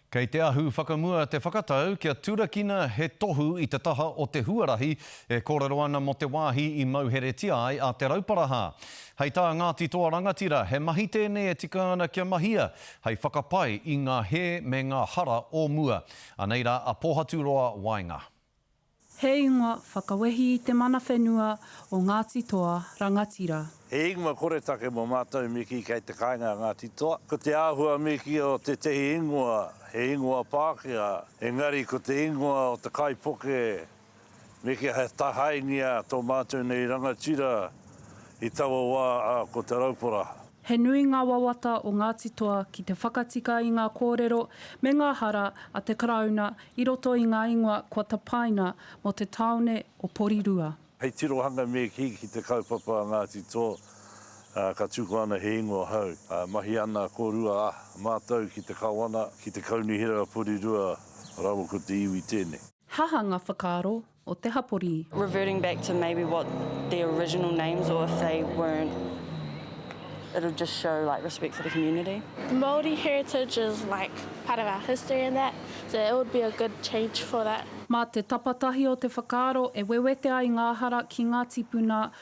Kei te ahu whakamua te whakatau kia turakina he tohu i te taha o te huarahi e kōrero ana mō te wāhi i mauheretia ai a Te Rauparaha. Hei tā Ngāti Toa Rangatira, he mahi tēnei e tika ana kia mahia hei whakapai i ngā hē me ngā hara o mua. Anei rā a Pōhaturoa waenga. He ingoa whakawehi i te mana whenua o Ngāti Toa rangatira. He ingoa koretake mō mātou mīki kei te kāinga a Ngāti Toa. Ko te āhua mīki o tētehi ingoa, he ingoa Pākehā, engari ko te ingoa o te kaipuke mīki he tahaingia tō mātou nei rangatira i taua wā a ko Te Rauparaha. He nui ngā wawata o Ngāti Toa ki te whakatika i ngā kōrero me ngā hara a te Karauna i roto i ngā ingoa kua tapaina mō te tāone o Porirua. Hei tirohanga me kī ki te kaupapa a Ngāti Toa, ka tuku ana he ingoa hou. Mahi ana kōrua a mātou ki te Kawana, ki te Kaunihera Porirua rawa ko te iwi tēnei. He aha ngā whakaaro o te hapori. Reverting back to maybe what their original names or if they weren't it'll just show like respect for the community. Māori heritage is like part of our history and that so it would be a good change for that. Mā te tapatahi o te whakaaro e wewete ai ngā hara ki ngā tipuna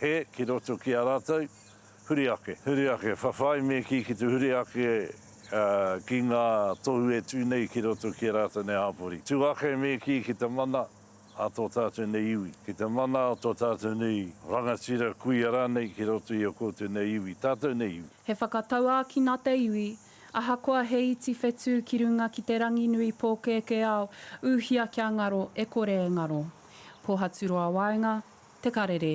He, ki roto ki a rātou, huri ake. Huri ake, whawhai me kī ki te huri ake ki ngā tohu e tū nei ki roto ki a rātou nei hāpori. Tū ake me kī ki te mana a tō tātou nei iwi, ki te mana a tō tātou nei rangatira, kuia rānei ki roto i a koutou nei iwi, tātou nei iwi. He whakatauākina te iwi, Ahakoa he iti whetū ki runga ki te ranginui pōkēkē ao, ūhia kia ngaro e kore e ngaro. Pōhaturoa waenga, te karere.